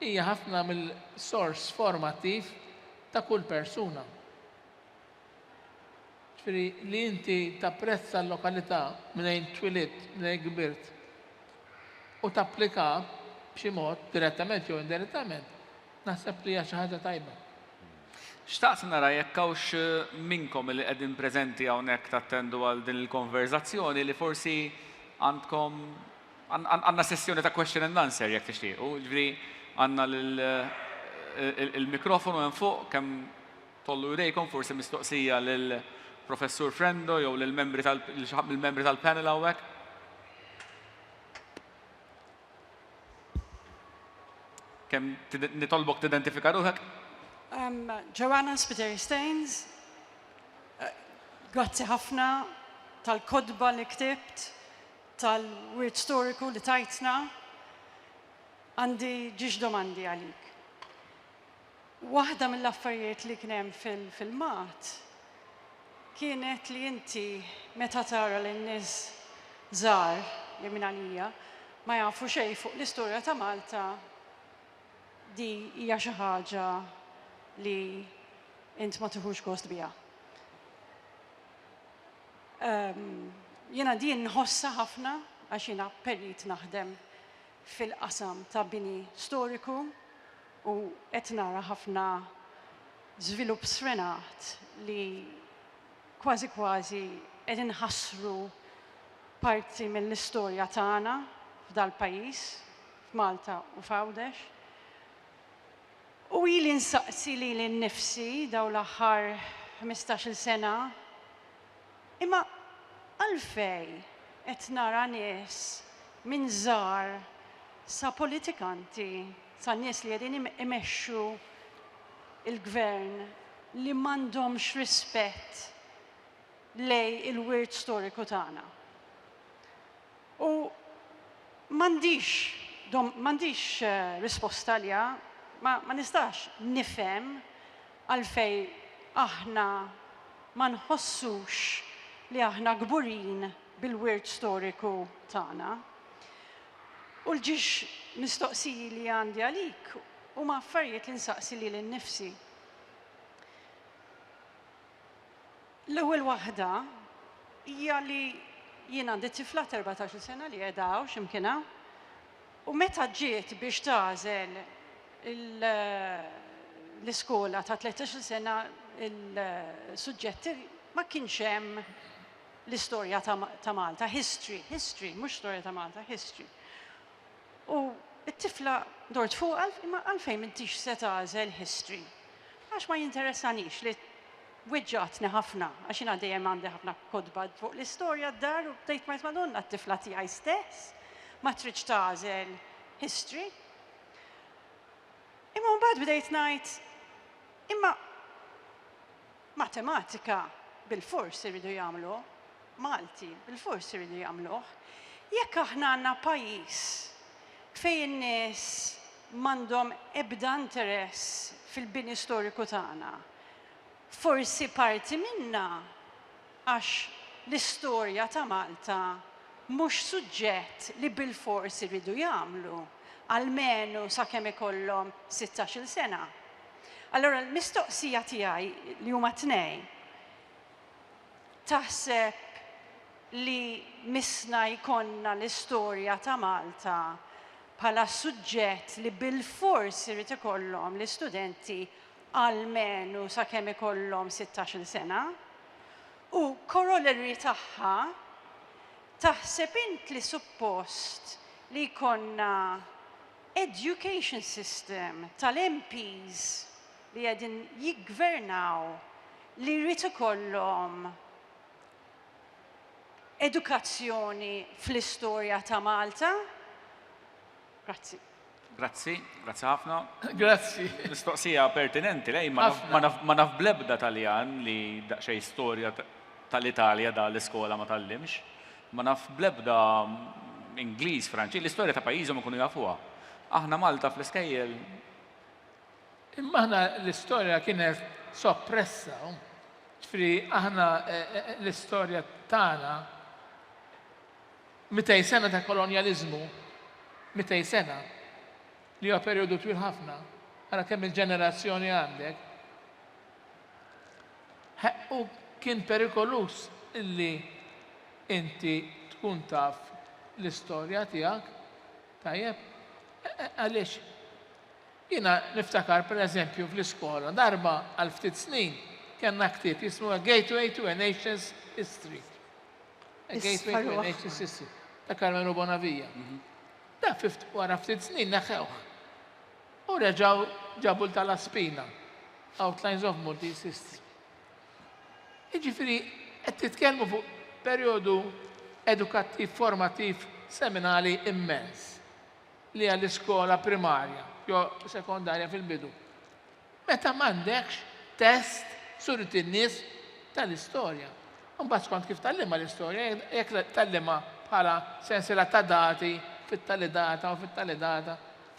hija ħafna mill-sors formattiv ta' kull persuna. Jiġifieri li inti tapprezza l-lokalità mnejn twilidt, mnejn kbirt u tapplika b'xi mod, direttament jew indirettament, naħseb li hija xi ħaġa tajba. Xtaqt nara jekk hawnx minnkom li qegħdin preżenti hawnhekk tattendu għal din il-konverżazzjoni li forsi għandkom, għandna sessjoni ta' question and answer jekk tixtiequ, jiġifieri għandna l-mikrofonu hemm fuq kemm Tollu jdejkom, forsi mistoqsija lil Professur Frendo jew lil membri tal lil xi ħadd mill-membri tal-panel hawnhekk. Kemm nitolbok tidentifika ruħek? Um, Joanna Spiteri Staines, uh, grazzi ħafna tal-kodba li ktibt, tal-wirt storiku li tajtna. Għandi ġiex domandi għalik. Waħda mill-affarijiet li kien hemm fil-filmat kienet li inti meta tara lil nies żgħar li minn għalija ma jafu xejn fuq l-istorja ta' Malta di hija xi ħaġa li int ma tiħux gost biha. Jiena din nħossha ħafna għax jiena perit naħdem fil-qasam ta' bini storiku u qed nara ħafna żvilupp sfrenat li kważi kważi qed inħassru parti mill-istorja tagħna f'dal-pajjiż, f'Malta u f'Għawdex. U ili nsaqsi lili nnifsi dawn l-aħħar ħmistax-il sena Imma għalfejn qed nara nies minn żgħar sa politikanti, sa nies li qegħdin imexxu l-Gvern li m'għandhomx rispett lejn il-wirt storiku tagħna? U m'għandix dom, m'għandix risposta għaliha. Ma, ma nistax nifhem għalfejn aħna ma nħossux li aħna kburin bil-wirt storiku tagħna. U l-ġiex mistoqsiji li għandi għalik huma affarijiet li nsaqsi lili nnifsi. L-ewwel waħda hija li jien għandi tifla t'erbatax-il sena li qiegħda hawn xi mkien hawn, u meta ġiet biex tagħżel l-iskola ta' tlettax-il sena l-suġġetti ma kienx hemm l-istorja ta' Malta, history, history, mhux storja ta' Malta, history. U t-tifla dort fuqha, imma għalfejn m'intix se tagħżel history? Għax ma jinteressanix li Weġġgħatni ħafna għax jiena dejjem għandi ħafna kotba fuq l-istorja d-dar u bdejt ngħid Madonna t-tifla tiegħi stess ma tridx tagħżel history. Imma mbagħad bdejt ngħid imma matematika bilfors iridu jagħmlu Malti, bilfors iridu jagħmluh. Jekk aħna għandna pajjiż fejn in-nies m'għandhom ebda interess fil-bini storiku tagħna, Forsi parti minnha għax l-istorja ta' Malta mhux suġġett li bilfors iridu jagħmlu, almenu sakemm ikollhom sittax-il sena. Allura l-mistoqsija tiegħi li huma tnejn, taħseb li missna jkollna l-istorja ta' Malta bħala suġġett li bilfors irid ikollhom l-istudenti almenu sakemm ikollhom sittax-il sena, u corollary tagħha, taħseb int li suppost li jkollna education system tal-MPs li qegħdin jiggvernaw li jrid ikollhom edukazzjoni fl-istorja ta' Malta? Grazzi. Grazzi, grazzi ħafna. Grazzi. Mistoqsija pertinenti, lej, ma naf blebda taljan li daqxej storja tal-Italja da l-iskola ma tallimx. Ma naf blebda Ingliż, Franċi, l-istorja ta' pajjiżhom ikunu jafuha. Aħna Malta fl-iskejjel. Imma aħna l-istorja kienet soppressa. Ġifri, aħna eh, eh, eh, l-istorja tagħna Mitej sena ta' kolonjaliżmu, mitej sena, li huwa perjodu twil ħafna, ara kemm il-ġenerazzjoni għandek, u kien perikoluż li inti tkun taf l-istorja tiegħek, tajjeb, għaliex jiena niftakar pereżempju fl-iskola darba għal ftit snin kellna ktieb jismu A Gateway to a Nation's History. A gateway to NHSS ta' Karmenu Bonavija. Dan wara ftit snin neħħewh. U reġgħu ġabu l ta' La Spina, Outlines of Maltese History. Jiġifieri qed titkellmu fuq perjodu edukattiv formattiv seminali immens li għall-iskola primarja jew sekondarja fil-bidu. meta m'għandekx test surit lin-nies tal-istorja. Imbagħad skont kif tgħallimha l-istorja, jekk tgħallimha bħala sensiela ta' dati fit-tali data u fit-tali data,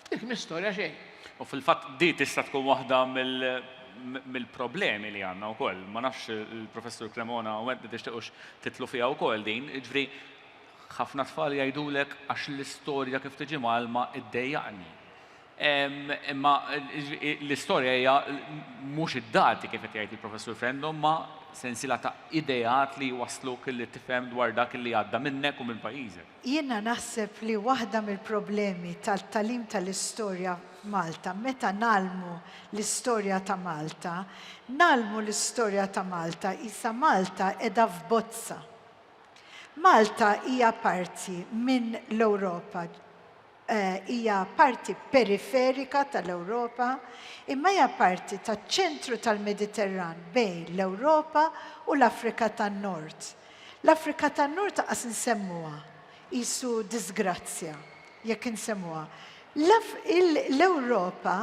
dik mhix storja xejn. U fil-fatt din tista' tkun waħda mill-problemi li għandna wkoll. Ma nafx il-Professur Cremona u int tixtiqux tidħlu fiha wkoll din. Jiġifieri ħafna tfal jgħidulek għax l-istorja kif tiġi mgħallma ddejjaqni. Imma l-istorja hija mhux id-dati kif qed jgħid il-Professur Frendo, imma sensiela ta' ideat li jwassluk li tifhem dwar dak li għadda minnek u minn pajjiżek. Jiena naħseb li waħda mill-problemi tal-tagħlim tal-istorja f'Malta, meta ngħallmu l-istorja ta' Malta, ngħallmu l-istorja ta' Malta qisha Malta qiegħda f'bozza. Malta hija parti minn l-Ewropa, hija parti periferika tal-Ewropa, imma hija parti taċ-ċentru tal-Mediterran bejn l-Ewropa u l-Afrika tan-Nord. L-Afrika tan-Nord anqas insemmuha, qisu diżgrazzja jekk insemmuha. L-Ewropa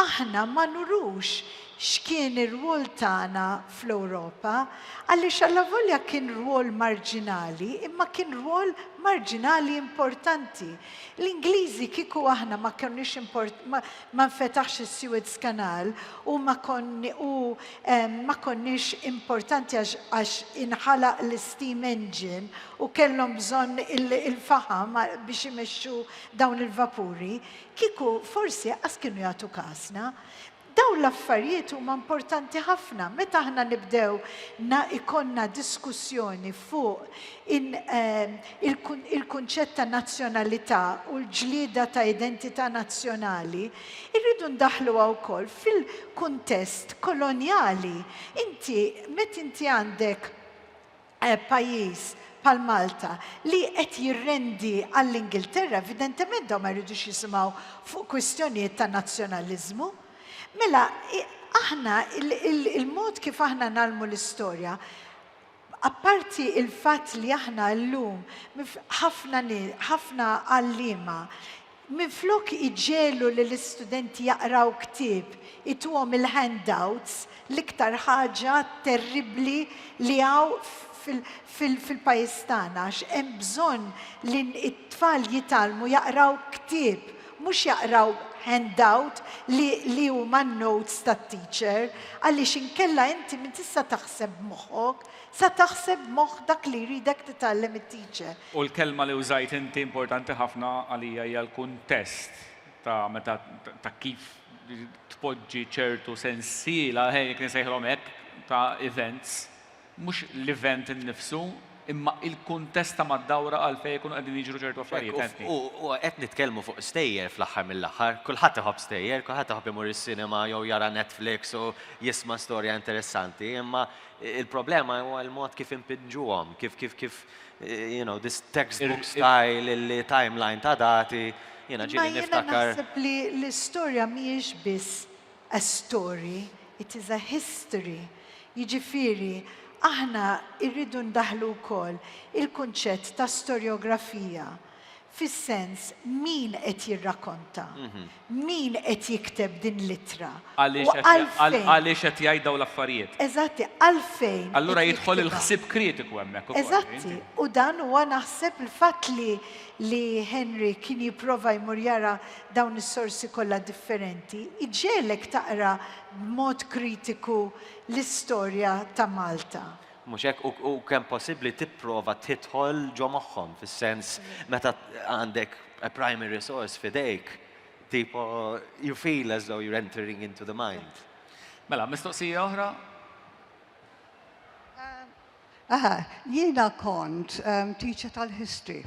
aħna ma nurux X'kien ir-rwol tagħna fl-Ewropa? Għaliex allavolja kien rwol marġinali, imma kien rwol marġinali importanti. L-Ingliżi kieku aħna ma konniex import, ma, ma nfetaħx is-Suez Canal u ma konni, u ehm, ma konniex importanti għax, għax inħalaq l-steam engine u kellhom bżonn il-faħam biex imexxu dawn il-vapuri, kieku forsi qas kienu jagħtu kasna. Dawn l-affarijiet huma importanti ħafna. Meta aħna nibdew na ikollna diskussjoni fuq in, ehm, il-kunċett ta' nazzjonalità u l-ġlieda ta' identità nazzjonali, irridu ndaħħluha wkoll fil-kuntest kolonjali. Inti, meta inti għandek pajjiż bħal Malta li qed jirrendi għall-Ingilterra, evidentement dawn ma jridux jisimgħu fuq kwistjonijiet ta' nazzjonaliżmu. Mela, aħna il-mod kif aħna ngħallmu l-istorja, apparti il-fatt li aħna llum ħafna ħafna għalliema Minflok iġegħlu lill-istudenti jaqraw ktieb, ituhom il-handouts, l-iktar ħaġa terribbli li hawn fil-pajjiż tagħna għax hemm bżonn li t-tfal jitgħallmu jaqraw ktieb, mhux jaqraw handout li huma n-notes tat-teacher, għaliex inkella inti minn tista' taħseb b'moħħok, sa taħseb b'moħħ dak li jridek titgħallem it-teacher. U l-kelma li użajt inti importanti ħafna għalija hija l-kuntest ta' meta ta' kif tpoġġi ċertu sensiela, ħe jekk insejħilhom hekk, ta' events, mhux l-event innifsu, imma l-kuntest ta' mad-dawra għalfejn ikunu qegħdin jiġru ċertu affarijiet, fhemtni? U qed nitkellmu fuq stejjer fl-aħħar mill-aħħar, kulħadd iħobb stejjer, kulħadd iħobb imur is-sinema jew jara Netflix u jisma' storja interessanti, imma l-problema huwa l-mod kif inpinġuhom, kif kif kif you know, this textbook style li timeline ta' dati, jiena ġieli niftakar. Imma jiena naħseb li l-istorja mhijiex biss a story, it is a history. Jiġifieri aħna rridu ndaħħlu wkoll il-kunċett ta' storjografija. Fis-sens, min qed jirrakkonta? Min qed jikteb din l-ittra? U għalfejn? Għaliex qed jgħid dawn l-affarijiet? Eżatti, għalfejn qed jiktibha? Allura jidħol il-ħsieb kritiku hemmhekk ukoll. Eżatti, u dan huwa naħseb il-fatt li li Henry kien jipprova jmur jara dawn is-sorsi kollha differenti, iġegħlek taqra b'mod kritiku l-istorja ta' Malta. Mhux hekk? U, u kemm possibbli tipprova tidħol ġo moħħhom, fis-sens meta għandek a primary source f'idejk, tipo you feel as though you're entering into the mind. Mela, mistoqsija oħra? Aha, jiena kont teacher tal-history.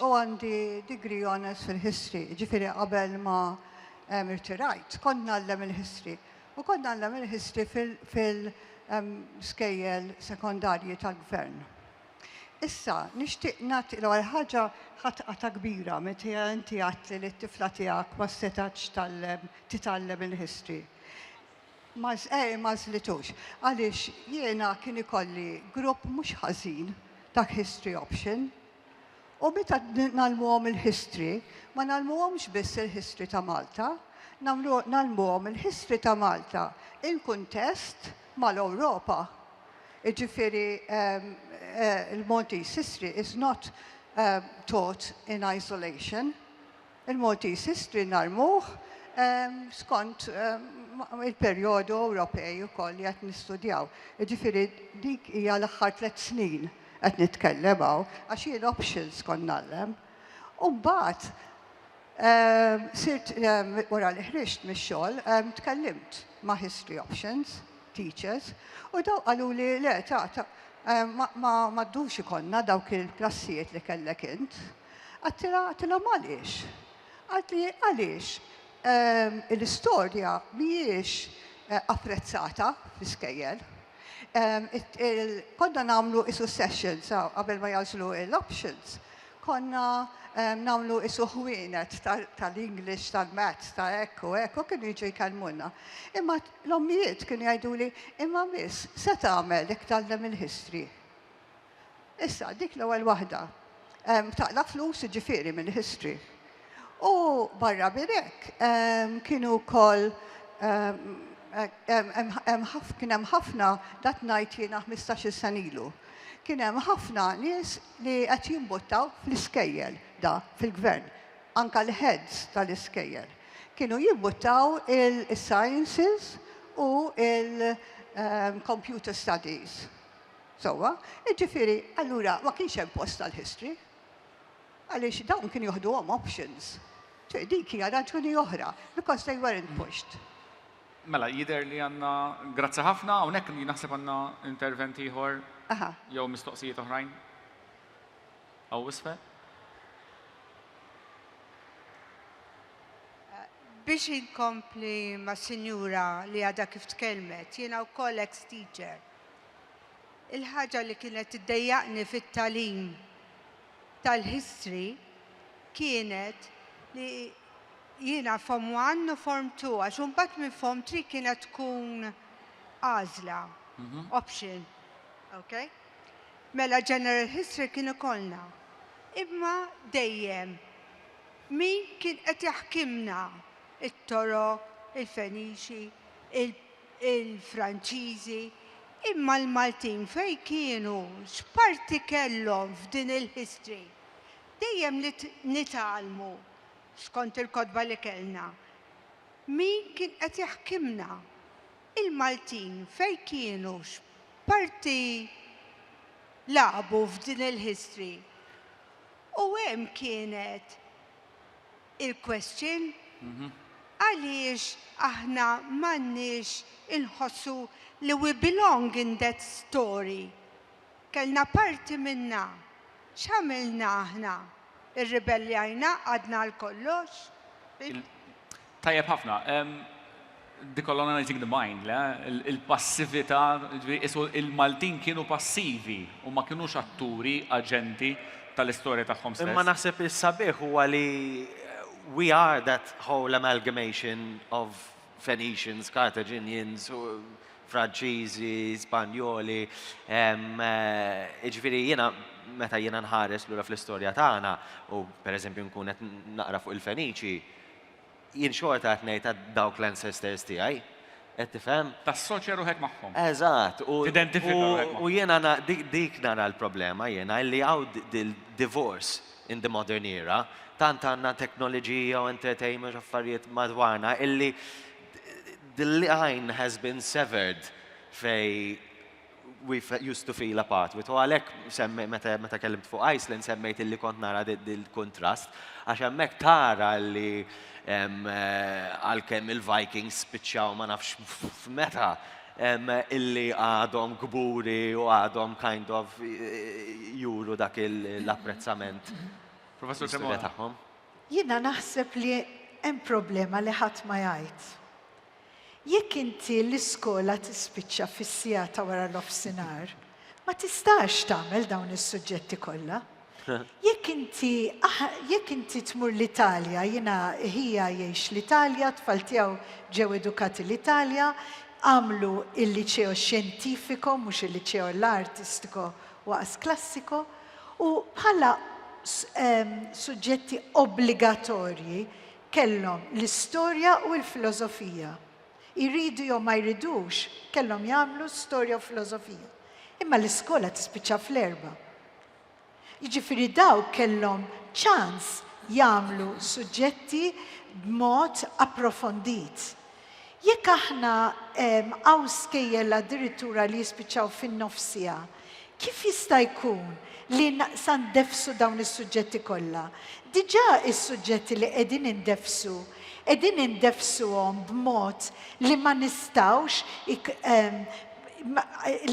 u għandi degree honours fil-history, ġifiri qabel ma irtirajt, kont nallem il-history. U kont nallem il-history fil-skejjel sekondarji tal-gvern. Issa, nixtieq nagħti l ħaġa ħatqa ta' kbira meta inti għadt li t-tifla tiegħek ma setatx tallem titgħallem il-history. Ma eh, ma żlitux. Għaliex jiena kien ikolli grupp mhux ħażin ta' history option, U meta ngħallmuhom il-history, ma ngħallmuhomx biss il-history ta' Malta, ngħallmuhom il-history ta' Malta in kuntest mal-Ewropa. Jiġifieri l-Maltese history is not taught in isolation. Il-Maltese History nagħrmuh skont il-perjodu Ewropej ukoll li qed nistudjaw. Jiġifieri dik hija l-aħħar tliet snin qed nitkellem hawn, għax jien options kont ngħallem. U mbagħad sirt wara li ħriġt mix-xogħol tkellimt ma' History Options teachers u daw qaluli le ta' ma ddux ikollna dawk il-klassijiet li kellek int. Għadtilha, għadtilhom għaliex? Qaltli, għaliex l-istorja mhijiex apprezzata fl-iskejjel. Konna nagħmlu isu sessions qabel ma jagħżlu l-options, konna nagħmlu isu ħwienet tal-English, tal-Maths, ta' hekk u hekk, u kienu jiġu jkellmuna. Imma l-ommijiet kienu jgħiduli, imma miss, se tagħmel jekk tgħallem il-history? Issa, dik l-ewwel waħda. Taqla' flus, jiġifieri mill-history. U barra minn hekk, kienu wkoll kien hemm ħafna, dat ngħid jiena ħmistax-il sena ilu, kien hemm ħafna nies li qed jimbuttaw fl-iskejjel, da fil-Gvern, anke l-heads tal-iskejjel, kienu jimbuttaw is-sciences u l-computer studies. Sewwa, jiġifieri allura ma kienx hemm post għal history. Għaliex dawn kienu joħduhom options. Ġifieri dik hija raġuni oħra, because they weren't pushed. Mela, jidher li għandna, grazzi ħafna, hawnhekk jien naħseb għandna intervent ieħor jew mistoqsijiet oħrajn. Hawn isfel. Biex inkompli mas-sinjura li għadha kif tkellmet, jiena wkoll ex-teacher. Il-ħaġa li kienet tiddejjaqni fit-tagħlim tal-History kienet li jiena Form One u Form Two għax imbagħad minn Form Three kienet tkun għażla, option. Ok? Mela General History kien ikollna. Imma dejjem min kien qed jaħkimna, it-Torok, il-Fenixi, il-Franċiżi, imma l-Maltin fejn kienu, x'parti kellhom f'din il-history? Dejjem nitgħallmu, skont il-kotba li kellna, min kien qed jaħkimna. Il-Maltin fejn kienu, x'parti lagħbu f'din il-history? U hemm kienet. il-question, għaliex aħna m'għandniex inħossu li we belong in that story? Kellna parti minnha. X'għamilna aħna? Irribeljajna, qgħadna għal kollox? Tajjeb ħafna. Decolonizing the Mind, le, il-passività, jiġifieri qisu l-Maltin kienu passivi u ma kinux atturi, aġenti, tal-istorja tagħhom stess. Imma naħseb is-sabiħ huwa li we are that whole amalgamation of Phoenicians, Carthaginians, Franċiżi, Spanjoli, jiġifieri jiena meta jiena nħares lura fl-istorja tagħna u pereżempju nkun qed naqra fuq il-Feniċi, Jien xorta qed ngħid għad dawk l-ancestors tiegħi. Qed tifhem? Tassoċja ruħek magħhom. Eżatt. U Tidentifika ruħek magħhom. u jiena na- dik dik nara l-problema jiena illi hawn d- dil- divorce in the modern era. Tant għandna teknoliġija u entertainment u affarijiet madwarna illi d- d- the line has been severed fejn we've used to feel apart with. U għalhekk semmi meta meta kellimt fuq Iceland semmejt illi kont nara dil-kuntrast għax hemmhekk tara li għalkemm il-Vikings spiċċaw ma nafx f'meta illi għadhom kburi u għadhom kind of juru dak l-apprezzament. Professur Cremona. Jiena naħseb li hemm problema li ħadd ma jgħid. Jekk inti l-iskola tispiċċa fis-siegħa ta' wara nofsinhar, ma tistax tagħmel dawn is-suġġetti kollha. Jekk inti jekk inti tmur l-Italja, jiena ħija jgħix l-Italja, t-tfal tiegħu ġew edukati l-Italja, għamlu il-Liceo Scientifico mhux il-Liceo Artistico u As Classico, u bħala suġġetti obbligatorji Kellhom l-istorja u l-filosofija. Jridu jew ma jridux, kellhom jagħmlu storja u filosofija. Imma l-iskola tispiċċa fl-erbgħa. Jiġifieri dawk kellhom ċans jagħmlu suġġetti b'mod approfondit. Jekk aħna hawn skejjel addirittura li jispiċċaw fin-nofsija, kif jista' jkun li sa ndeffsu dawn is-suġġetti kollha? Diġà is-suġġetti li qegħdin indeffsu, qegħdin indeffsuhom b'mod li ma nistgħux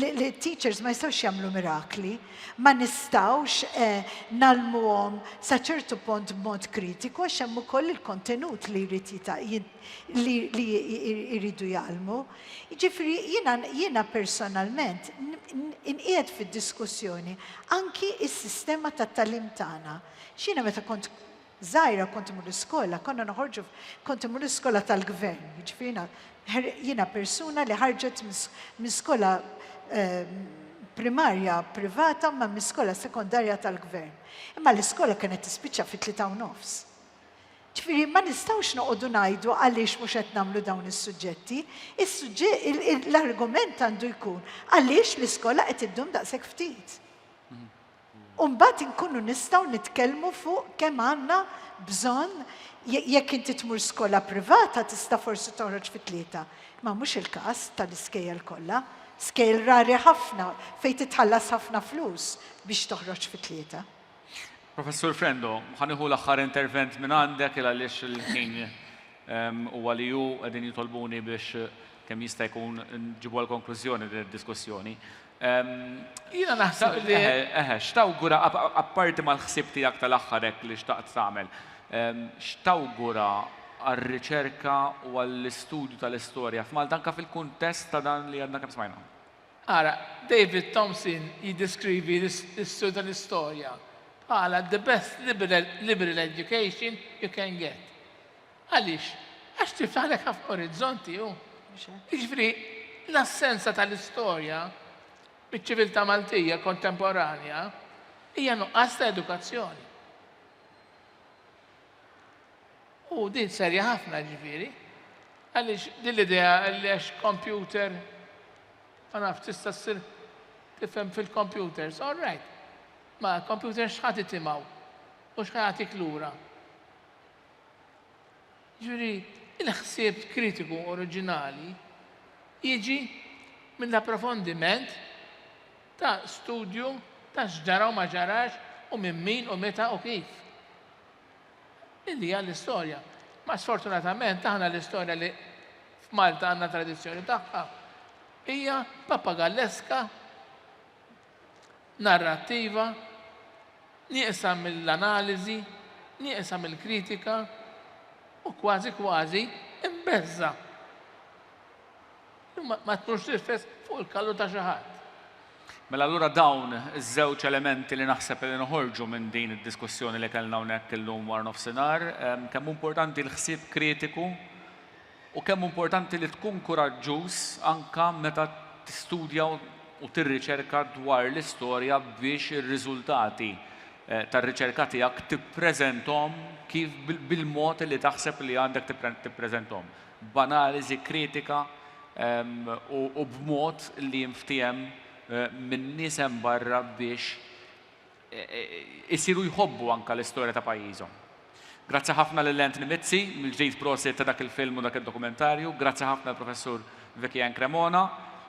li t-teachers ma jistgħux jagħmlu mirakli, ma nistgħux ngħallmuhom sa ċertu punt b'mod kritiku għax hemm ukoll il-kontenut li jrid li li jridu jgħallmu. Jiġifieri jiena jiena personalment inqiegħed fid-diskussjoni anki s-sistema tat-tagħlim tagħna. X'jiena meta kont żgħira kont imur l-iskola, konna noħorġu kont imur l-iskola tal-gvern, jiġifieri jiena jiena persuna li ħarġet minn skola ehm, primarja privata ma minn skola sekondarja tal-gvern. Imma l-iskola kienet tispiċċa fit-tlieta u nofs. Ġifieri ma nistgħux noqogħdu ngħidu għaliex mhux qed nagħmlu dawn is-suġġetti. L-argument għandu jkun għaliex l-iskola qed iddum daqshekk ftit. U mbagħad inkunu nistgħu nitkellmu fuq kemm għandna bżonn jekk inti tmur skola privata tista' forsi toħroġ fi tlieta. Ma mhux il-każ tal-iskejjel kollha. Skejjel rari ħafna fejn titħallas ħafna flus biex toħroġ fi tlieta. Professur Frendo, ħa nieħu l-aħħar intervent minn għandek il għaliex il-ħin huwa li hu qegħdin jitolbuni biex kemm jista' jkun nġibu għal konklużjoni din id-diskussjoni. Jiena naħseb li eħe, x'tawgura apparti mal-ħsieb tiegħek tal-aħħar hekk li xtaqt tagħmel, x'tawgura għar-riċerka u għall-istudju tal-istorja f'Malta anke fil-kuntest ta' dan li għadna kemm smajna? Ara, David Thompson jiddeskrivi l-Istitut tal-Istorja bħala the best liberal education you can get. Għaliex? Għax tiftaħlek ħafna orizzonti hu. Jiġifieri, l-assenza tal-istorja miċ-ċiviltà Maltija kontemporanja hija nuqqas ta' edukazzjoni. U din serja ħafna ġifieri, għaliex din l-idea li għax computer ma nafx tista' ssir tifhem fil-computers, all right. Ma computer x'ħadd itimaw u x'ħatik lura. Ġifieri, il-ħsieb kritiku oriġinali jiġi minn l-approfondiment ta' studju ta' x'ġara u ma ġarax u minn min u meta u kif. Din hija l-istorja. Ma sfortunatament aħna l-istorja li f'Malta għandna tradizzjoni tagħha hija papagalleska, narrattiva, nieqsa mill-analiżi, nieqsa mill-kritika u kważi kważi imbeżża. Ma tkunx tirfes fuq il-kallu ta' xi ħadd. Mela allura dawn iż-żewġ elementi li naħseb li noħorġu minn din id-diskussjoni li kellna hawnhekk illum wara nofsinhar, kemm hu importanti l-ħsieb kritiku u kemm hu importanti li tkun kuraġġuż anke meta tistudja u tirriċerka dwar l-istorja biex ir-riżultati tar-riċerka tiegħek tippreżenthom kif bil-mod li taħseb li għandek tippreżenthom. b'analiżi kritika u b'mod li jinftiehem min-nies hemm barra biex isiru jħobbu anke l-istorja ta' pajjiżhom. Grazzi ħafna lil Anthony Mizzi, mill-ġdid prosit ta' dak il-film u dak id-dokumentarju, grazzi ħafna lill-Professur Vicky Ann Cremona,